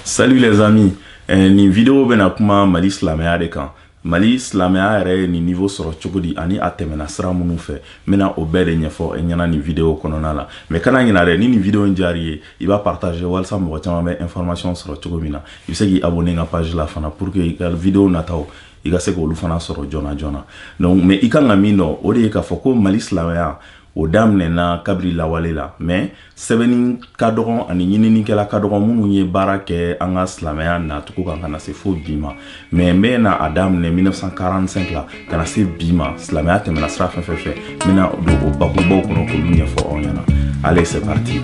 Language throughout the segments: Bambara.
Salut les amis eh, nin video bɛna kuma Mali silamɛya de kan Mali silamɛya yɛrɛ ye nin niveau sɔrɔ cogo di ani a tɛmɛna sira minnu fɛ n bɛna o bɛɛ de ɲɛfɔ e ɲɛna nin video kɔnɔna la mais kana ɲina dɛ ni nin video in diyar'i ye i b'a partager walisa mɔgɔ caman bɛ information sɔrɔ cogo min na i bɛ se k'i abonner n ka page la fana pour que i ka video nataw i ka se k'olu fana sɔrɔ joona joona donc mais i ka kan ka min dɔn o de ye k'a fɔ ko Mali silamɛya o daminɛna kabiri lawale la mais sɛbɛnni ka dɔgɔn ani ɲininikɛla ka dɔgɔn minnu ye baara kɛ an ka silamɛya nacogo kan ka na se fo bi ma mais n bɛna a daminɛ 1945 la ka na se bi ma silamɛya tɛmɛna sira fɛn fɛn fɛ n bɛna don o bakurubaw kɔnɔ k'olu ɲɛfɔ aw ɲɛna allez c'est parti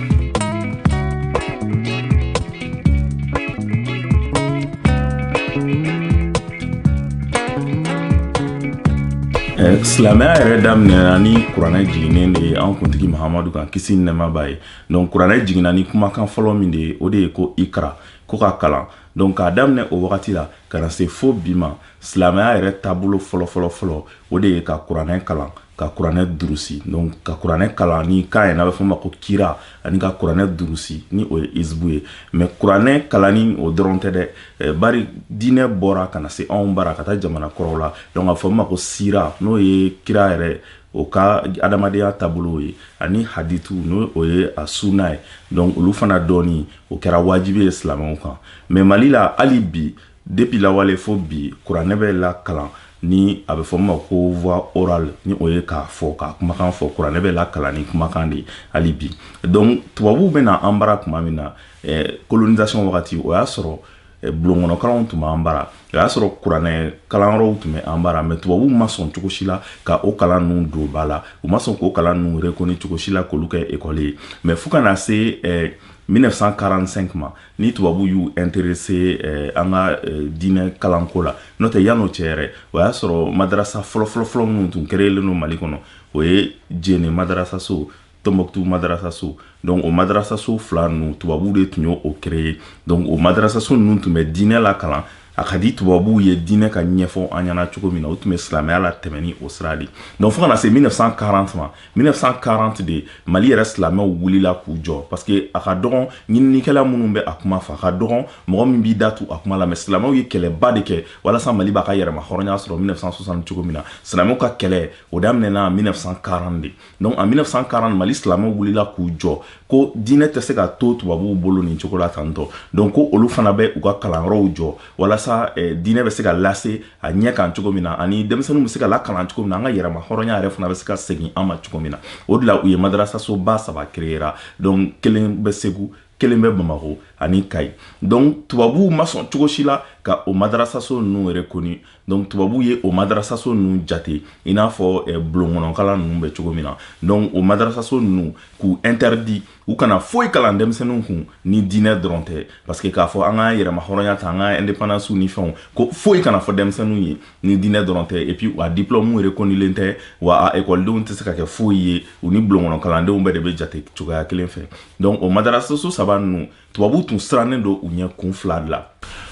silamɛya yɛrɛ daminɛna ni kuranɛ jiginnen de ye an kuntigi mahamadu kan kisi ni nɛɛma b'a ye donc kuranɛ jiginna ni kumakan fɔlɔ min de ye o de ye ko ikra ko ka kalan donc k'a daminɛ o wagati la ka na se fo bi ma silamɛya yɛrɛ taabolo fɔlɔfɔlɔfɔlɔ o de ye ka kuranɛ kalan ka kuranɛ durusi donc ka kuranɛ kalan ni kan yɛrɛ n'a bɛ fɔ ma ko kira ani ka kuranɛ durusi ni o ye izibu ye mais kuranɛ kalanni o dɔrɔn tɛ dɛ eh, bari diinɛ bɔra ka na se anw bara ka taa jamana kɔrɔw la donc a fɔ ma ko sira n'o ye kira yɛrɛ o ka adamadenya taabolow ye ani haditu n'o o ye a sunna ye donc olu fana dɔnni o kɛra wajibi ye silamɛw kan mais Mali la hali bi Depuis lawale fo bi kuranɛ bɛ lakalan ni a bɛ fɔ min ma ko voix orale ni o ye k'a fɔ k'a kumakan fɔ kuranɛ bɛ lakalan ni kumakan de hali bi donc tubabuw bɛ na an bara tuma min na eh, colonisation wagati o y'a sɔrɔ eh, bulonkɔnɔkalanw tun b'an bara o y'a sɔrɔ kuranɛ kalanyɔrɔw tun bɛ an bara mais tubabuw ma sɔn cogo si la ka o kalan ninnu don ba la u ma sɔn k'o kalan ninnu reconnu cogo si la k'olu kɛ ekɔli ye mais fo ka na se eh, 1945 ma ni tubabu y'u intéressé eh, an ka eh, diinɛ kalanko la n'o tɛ yann'o cɛ yɛrɛ o y'a sɔrɔ madarasa fɔlɔfɔlɔfɔlɔ minnu tun créélen don mali kɔnɔ o ye Jɛnɛ madarasaso Tombouctou madarasaso donc o madarasaso fila ninnu tubabuw de tun y'o créé donc o madarasaso ninnu tun bɛ diinɛ lakalan a ka di tubabuw ye diinɛ ka ɲɛfɔ an ɲɛna cogo min na o tun bɛ silamɛya latɛmɛ ni o sira de donc fo ka na se 1940 ma 1940 de mali yɛrɛ silamɛw wulila k'u jɔ parce que a ka dɔgɔn ɲininikɛla minnu bɛ a kuma fɔ a ka dɔgɔn mɔgɔ min b'i da tu a kuma la mais silamɛw ye kɛlɛba de kɛ walasa mali b'a ka yɛrɛmahɔrɔnya sɔrɔ 1960 cogo min na silamɛw ka kɛlɛ o daminɛna 1940 de donc en 1940 mali silamɛw wulila k'u jɔ ko diinɛ tɛ se ka to tubabuw bolo nin cogo la tan tun donc ko olu fana bɛ u ka kalanyɔrɔw jɔ walasa eh, diinɛ bɛ se ka lase a ɲɛ kan cogo min na ani denmisɛnninw bɛ se ka lakalan cogo min na an ka yɛrɛma hɔrɔnya yɛrɛ fana bɛ se ka segin an ma cogo min na o de la u ye madarasasoba saba créera donc kelen bɛ Segu kelen bɛ Bamako ani Kayi donc tubabuw ma sɔn cogo si la ka o madarasaso ninnu reconnu donc tubabuw ye o madarasaso ninnu jate i n'a fɔ eh, bulonkɔnɔkalan ninnu bɛ cogo min na donc o madarasaso ninnu k'u interdit u kana foyi kalan denmisɛnninw kun ni diinɛ dɔrɔn tɛ parce que k'a fɔ an ka yɛrɛma hɔrɔnya ta an ka indépendance ni fɛnw ko foyi kana fɔ denmisɛnninw ye ni diinɛ dɔrɔn tɛ et puis a diplôme reconnulen tɛ wa a ekɔlidenw tɛ se ka kɛ foyi ye u ni bulonkɔnɔkalandenw bɛɛ de bɛ jate cogoya kelen fɛ donc o madarasaso saba ninnu tubabuw tun sirannen don u ɲɛ kun fila de la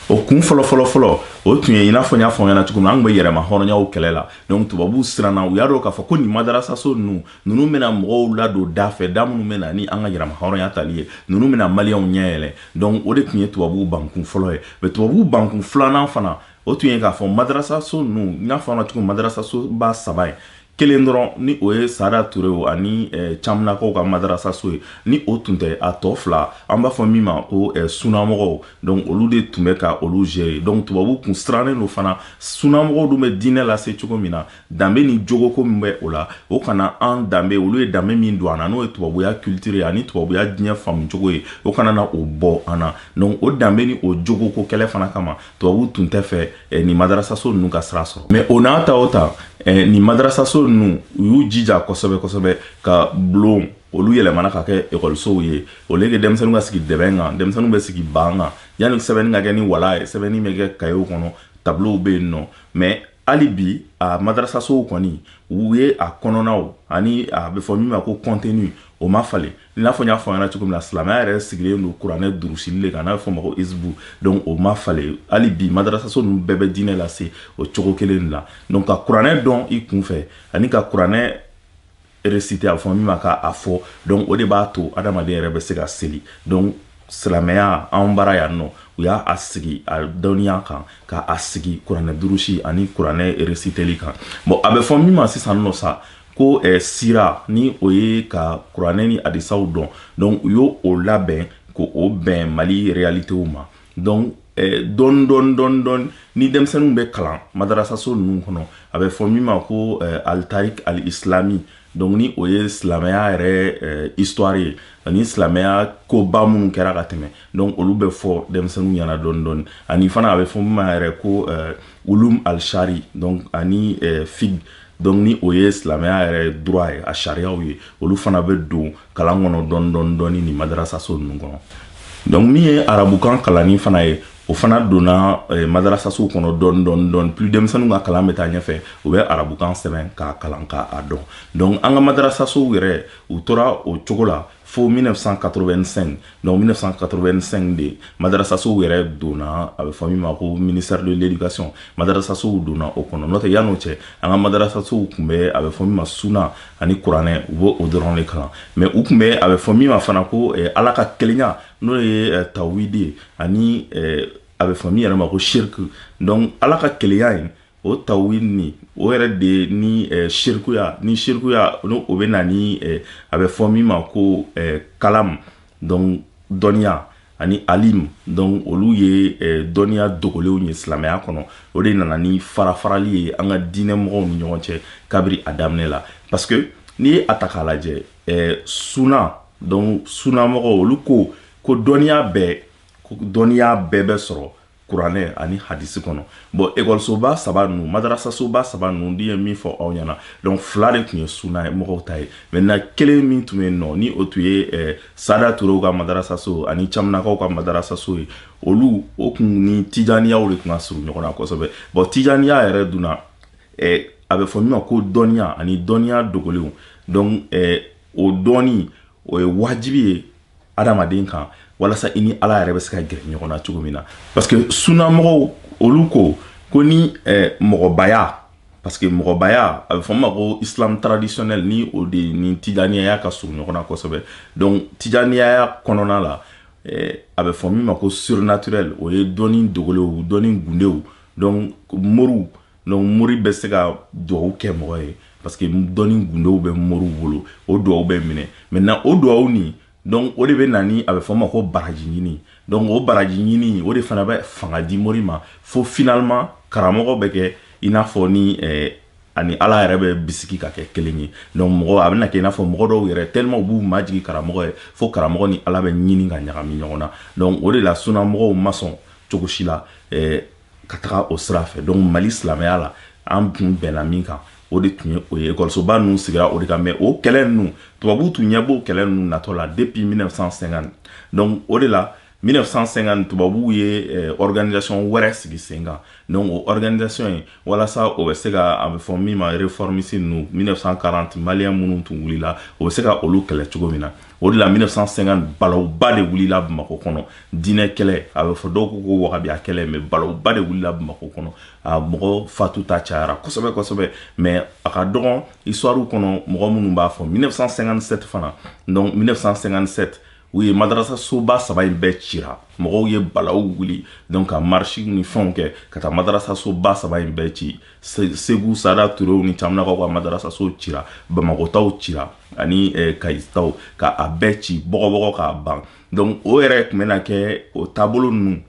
o kun fɔlɔ fɔlɔ fɔlɔ o tun ye i n'a fɔ n y'a fɔ ɲɛna cogo min na an tun bɛ yɛrɛma hɔrɔnyaw kɛlɛ la donc tubabuw siranna u y'a dɔn k'a fɔ ko nin madarasaso ninnu ninnu bɛna mɔgɔw ladon da fɛ da minnu bɛ na ni an ka yɛrɛma hɔrɔnya tali ye ninnu bɛna maliyɛnw ɲɛ yɛlɛ donc o de tun ye tubabuw bankun fɔlɔ ye mais tubabuw bankun filanan fana o tun ye k'a fɔ madarasaso ninnu n y'a fɔ ɲɛna cogo min madarasasoba saba ye kelen dɔrɔn ni o ye sada turew ani eh, camunakaw ka madarasaso ye ni o tun tɛ a tɔ fila an b'a fɔ min ma ko eh, sunamɔgɔw donc olu de tun bɛ ka olu gérer donc tubabuw kun sirannen don fana sunamɔgɔw dun bɛ diinɛ lase cogo min na danbe ni jogoko min bɛ o la o kana an danbe olu ye danbe min don an na n'o ye tubabuya culture ye ani tubabuya diɲɛ faamu cogo ye o kana na o bɔ an na donc o danbe ni o jogoko kɛlɛ fana kama tubabuw tun t'a fɛ eh, nin madarasaso ninnu ka sira sɔrɔ mais o n'a ta o ta eh, nin madarasaso ninnu u y'u jija kosɛbɛ kosɛbɛ ka bulon olu yɛlɛmana ka kɛ ekɔlisow ye au lieu que denmisɛnninw ka sigi dɛbɛn kan denmisɛnninw bɛ sigi ban kan yanni sɛbɛnni ka kɛ ni wala ye sɛbɛnni bɛ kɛ kayew kɔnɔ tableau bɛ yen nɔ mais hali bi a madarasasow kɔni u ye a kɔnɔnaw ani a bɛ fɔ min ma ko contenu o ma falen i n'a fɔ n y'a fɔ ɲɛna cogo min na silamɛya yɛrɛ sigilen don kuranɛ durusili de kan n'a bɛ fɔ ma ko hizbu donc o ma falen hali bi madarasaso ninnu bɛɛ bɛ diinɛ lase o cogo kelen de la donc ka kuranɛ dɔn i kun fɛ ani ka kuranɛ réciter a bɛ fɔ min ma k'a fɔ donc o de b'a to adamaden yɛrɛ bɛ se ka seli donc silamɛya anw bara yan nɔ u y'a sigi a dɔnniya kan ka a sigi kuranɛ durusi ani kuranɛ resiteli kan bon a bɛ fɔ min ma sisan nɔ sa ko eh, sira ni o ye ka kuranɛ ni hadisaw dɔn donc u y'o o labɛn k'o bɛn mali realitew ma donc eh, dɔɔni dɔɔni dɔɔni dɔɔni ni denmisɛnninw bɛ kalan madarasaso ninnu kɔnɔ a bɛ fɔ min ma ko eh, al tarik al islami donc ni o ye silamɛya yɛrɛ eh, histoire ye ani silamɛya koba minnu kɛra ka tɛmɛ donc olu bɛ fɔ denmisɛnninw ɲɛna dɔɔni dɔɔni ani fana a bɛ fɔ min ma yɛrɛ ko eh, ulum al shari donc ani eh, fiqh donc ni o ye silamɛya yɛrɛ droit ye a sariyaw ye olu fana bɛ don kalan kɔnɔ dɔɔni dɔɔni dɔɔni nin madarasaso ninnu kɔnɔ donc min ye arabukan kalanni fana ye o fana donna eh, madarasasow kɔnɔ dɔɔni dɔɔni dɔɔni plus denmisɛnninw ka kalan bɛ taa ɲɛfɛ u bɛ arabukan sɛbɛn k'a kalan k'a dɔn donc an ka madarasasow yɛrɛ u tora o cogo la fo 1985 Donc 1985 de madarasasow yɛrɛ donna a bɛ fɔ min ma ko ministère de l'éducation madarasasow donna o kɔnɔ n'o tɛ yan'o cɛ an ka madarasasow tun bɛ a bɛ fɔ min ma suna ani kuranɛ u b'o dɔrɔn de kalan mais u tun bɛ a bɛ fɔ min ma fana ko eh, ala ka kelenya n'o ye eh, tawhidi ani eh, a bɛ fɔ min yɛrɛ ma ko shirk donc ala ka kelenya in o tawhidi nin o yɛrɛ de ye ni eh, shirkuya ni shirkuya no o bɛ na ni eh, a bɛ fɔ min ma ko eh, kalam donc dɔnniya ani alim donc olu ye eh, dɔnniya dogolenw ye silamɛya kɔnɔ o de nana ni farafarali ye an ka diinɛ mɔgɔw ni ɲɔgɔn cɛ kabiri a daminɛ la parce que n'i ye a ta k'a lajɛ eh, suna donc sunamɔgɔw olu ko ko dɔnniya bɛɛ ko dɔnniya bɛɛ bɛ sɔrɔ kuranɛ ani hadisi kɔnɔ bon ekɔlisoba saba ninnu madarasasoba saba ninnu di ye min fɔ aw ɲɛna donc fila de tun ye sunamɔgɔw ta ye maintenant kelen min tun ye nɔ ni o tun ye eh, sada turew ka madarasaso ani caminakaw ka madarasaso ye olu o tun ni tijaniyaw de tun ka surun ɲɔgɔn na kosɛbɛ bon tijaniya yɛrɛ dunna eh, a bɛ fɔ min ma ko dɔnniya ani dɔnniya dogolenw donc eh, o dɔnni o ye wajibi ye adamaden kan walasa i ni ala yɛrɛ bɛ se ka gɛrɛ ɲɔgɔn na cogo min na parce que sunamɔgɔw olu ko ko ni eh, mɔgɔbaya parce que mɔgɔbaya a bɛ fɔ ma ko islam traditionnel ni o de ni tijaniyaya ka surun ɲɔgɔn na kosɛbɛ donc tijaniyaya kɔnɔna la eh, a bɛ fɔ min ma ko surnaturel o ye dɔnni dogolenw dɔnni gundow donc moriw Donc mori bɛ se ka dugawu kɛ mɔgɔ ye parce que dɔnni gundow bɛ moriw bolo o dugawu bɛ minɛ maintenant o dugawu nin donc o de bɛ na ni a bɛ fɔ ma ko baraji ɲini donc o baraji ɲini o de fana bɛ fanga di mori ma fo finalement karamɔgɔ bɛ kɛ i n'a fɔ ni eh, a ni ala yɛrɛ bɛ bisigi ka kɛ kelen ye donc mɔgɔ a bɛna kɛ i n'a fɔ mɔgɔ dɔw yɛrɛ tellement u b'u majigi karamɔgɔ ye fo karamɔgɔ ni ala bɛ ɲini ka ɲagami ɲɔgɔn na donc o de la sunamɔgɔw ma sɔn cogo si la eh, ka taga o sira fɛ donc mali silamɛya la an tun bɛnna min kan o de tun ye o ye ekɔlisoba ninnu sigira o de kan mais o kɛlɛ ninnu tubabuw tun ɲɛ b'o kɛlɛ ninnu natɔ la depuis 1950 donc o de la 1950 tubabuw ye eh, organisation wɛrɛ sigi sen kan donc o organisation ye walasa o bɛ se ka a bɛ fɔ min ma réformiste ninnu 1940 maliyɛn minnu tun wulila o bɛ se ka olu kɛlɛ cogo min na o de la 1950 balawba de wulila Bamakɔ kɔnɔ diinɛ kɛlɛ a bɛ fɔ dɔw ko ko wagabiya kɛlɛ mais balawba de wulila Bamakɔ kɔnɔ a mɔgɔ fatu ta cayara kosɛbɛ kosɛbɛ mais a ka dɔgɔn histoire kɔnɔ mɔgɔ minnu b'a fɔ 1957 fana donc 1957 u ye madarasasoba saba in bɛɛ cira mɔgɔw ye balaw wuli donc ka marche ni fɛnw kɛ ka taa madarasasoba saba in bɛɛ ci segu saada turew ni camanakaw ka madarasasow cira bamakɔ taw cira ani eh, kayi taw ka a bɛɛ ci bɔgɔbɔgɔ k'a ban donc o yɛrɛ tun bɛna kɛ o taabolo ninnu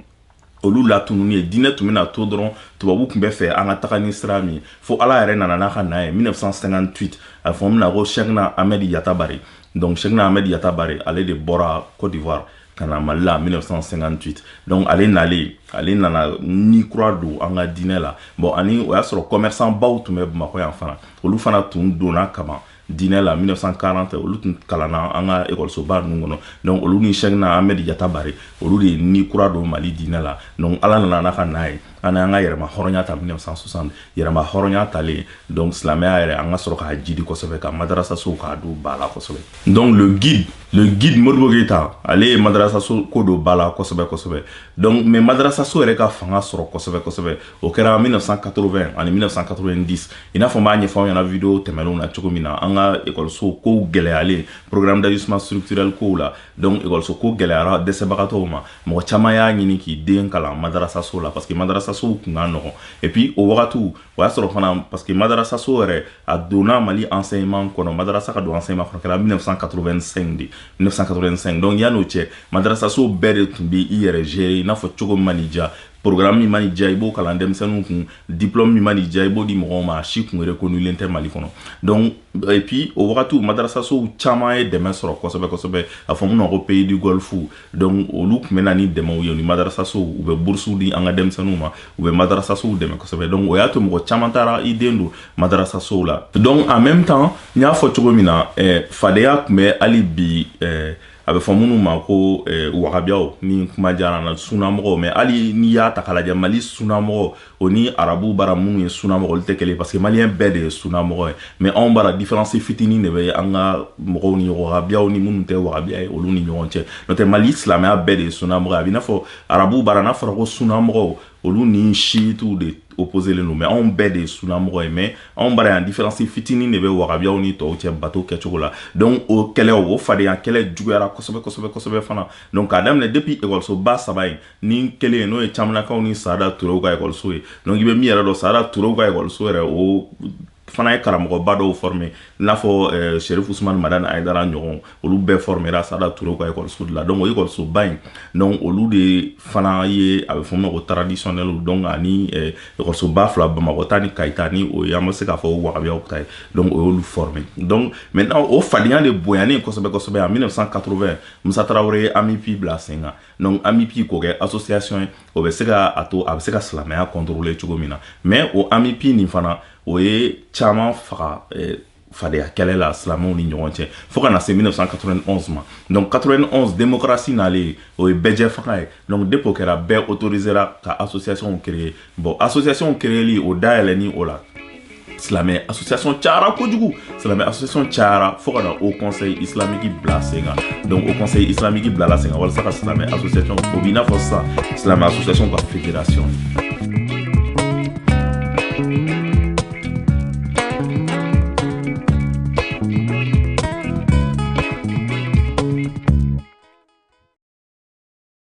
olu latununni ye diinɛ tun bɛna to dɔrɔn tubabu tun b'a fɛ an ka taga ni sira min ye fo ala yɛrɛ nana n'a ka na ye 1958 a fɔ min na ko cheikhna ahmed yatabare donc cheikhna ahmed yatabare ale de bɔra côte d'ivoire ka na mali la 1958 donc ale nalen ale nana ni kura don an ka diinɛ la bon ani o y'a sɔrɔ commerçant baw tun bɛ bamakɔ yan fana olu fana tun donna kaban diinɛ la 1940 olu tun kalanna an ka ekɔlisoba ninnu kɔnɔ donc olu ni cheikhna ahmed yatabare olu de ye ni kura don mali diinɛ la donc ala nana n'a ka na ye an y'an ka yɛrɛmahɔrɔnya ta 1960 yɛrɛmahɔrɔnya talen donc silamɛya yɛrɛ an ka sɔrɔ ka jidi kosɛbɛ ka madarasasow k'a don ba la kosɛbɛ donc le guide le guide modibo keyita ale ye madarasaso ko don ba la kosɛbɛ kosɛbɛ donc mais madarasaso yɛrɛ ka fanga sɔrɔ kosɛbɛ kosɛbɛ o kɛra 1980 ani 1990 i n'a fɔ n b'a ɲɛfɔ aw ɲɛna vidéo tɛmɛnenw na cogo min na an ka ekɔlisow kow gɛlɛyalen programme d'ajustement structurel kow la donc ekɔliso ko gɛlɛyara dɛsɛbagatɔw ma mɔgɔ caman y'a ɲini k'i den kalan madarasaso la parce que madarasasow kun ka nɔgɔn et puis o wagatiw o y'a sɔrɔ fana parce que madarasaso yɛrɛ a donna mali enseignement kɔnɔ madarasa ka don enseignement kɔnɔ kɛra 1985 de 1985 donc yan'o cɛ madarasaso bɛɛ de tun bɛ i yɛrɛ gérer i n'a fɔ cogo min man'i diya programme min man'i diya i b'o kalan denmisɛnninw kun diplôme min man'i diya i b'o di mɔgɔw ma a si kun reconnulen tɛ mali kɔnɔ donc et puis o wagatiw madarasasow caman ye dɛmɛ sɔrɔ kosɛbɛ kosɛbɛ a fɔ minnu ma ko pays du golfe donc olu tun bɛ na ni dɛmɛw ye u ni madarasasow u bɛ burusiw di an ka denmisɛnninw ma u bɛ madarasasow dɛmɛ kosɛbɛ donc o y'a to mɔgɔ caman taara i den don madarasasow la donc en même temps n y'a fɔ cogo min na eh, fadenya tun bɛ hali bi eh, a bɛ fɔ minnu ma ko eh, wagabiyaw ni kuma diyara na sunamɔgɔw mais hali n'i y'a ta k'a lajɛ mali sunamɔgɔ o ni arabu bara minnu ye sunamɔgɔ olu tɛ kelen parce que maliyɛn bɛɛ de ye sunamɔgɔ ye mais anw bara différence fitinin de bɛ an ka mɔgɔw ni wagabiyaw ni minnu tɛ wagabiya ye olu ni ɲɔgɔn cɛ n'o tɛ mali silamɛya bɛɛ de ye sunamɔgɔ ye a b'i n'a fɔ arabu bara n'a fɔra ko sunamɔgɔw olu ni shiitiw de opposélen don mais anw bɛɛ de ye sunamɔgɔ ye mais anw bara yan différence fitinin de bɛ wagabiyaw ni tɔw cɛ bato kɛcogo la donc o kɛlɛ o fadenya kɛlɛ juguyara kosɛbɛ kosɛbɛ kosɛbɛ fana donc k'a daminɛ depuis ekɔlisoba saba in ni kelen ye n'o ye camanakaw ni saada turew ka ekɔliso ye donc i bɛ min yɛrɛ dɔn saada turew ka ekɔliso yɛrɛ o fana ye karamɔgɔba dɔw former i n'a fɔ eh, Chérif Ousmane Madani Haïdara ɲɔgɔn olu bɛɛ formera Sada Touré ka ekɔliso de la donc o ekɔlisoba in donc olu de fana ye a bɛ fɔ o ma ko traditionnel donc ani eh, ekɔlisoba fila Bamakɔ ta ni Kayi ta ni o ye an bɛ se k'a fɔ Wahabiyaw ta ye donc o y'olu former donc maintenant o fadenya de bonyanen kosɛbɛ kosɛbɛ en 1980 Musa Traoré ye AMUPI bila sen kan donc AMUPI k'o kɛ association ye o bɛ se ka a to a bɛ se ka silamɛya contrôler cogo min na mais o AMUPI nin fana o ye caman faga eh, fadenya kɛlɛ la silamɛw ni ɲɔgɔn cɛ fo ka na se 1991 ma donc 91 démocratie nalen o ye bɛɛjɛfanga ye donc depuis o kɛra bɛɛ autorisera ka association créer bon association créeli o dayɛlɛni o la silamɛ association cayara kojugu silamɛ association cayara fo ka na Haut Conseil islamique bila sen kan donc Haut Conseil islamique bilala sen kan walasa ka silamɛ association o b'i n'a fɔ sisan silamɛ association ka fédération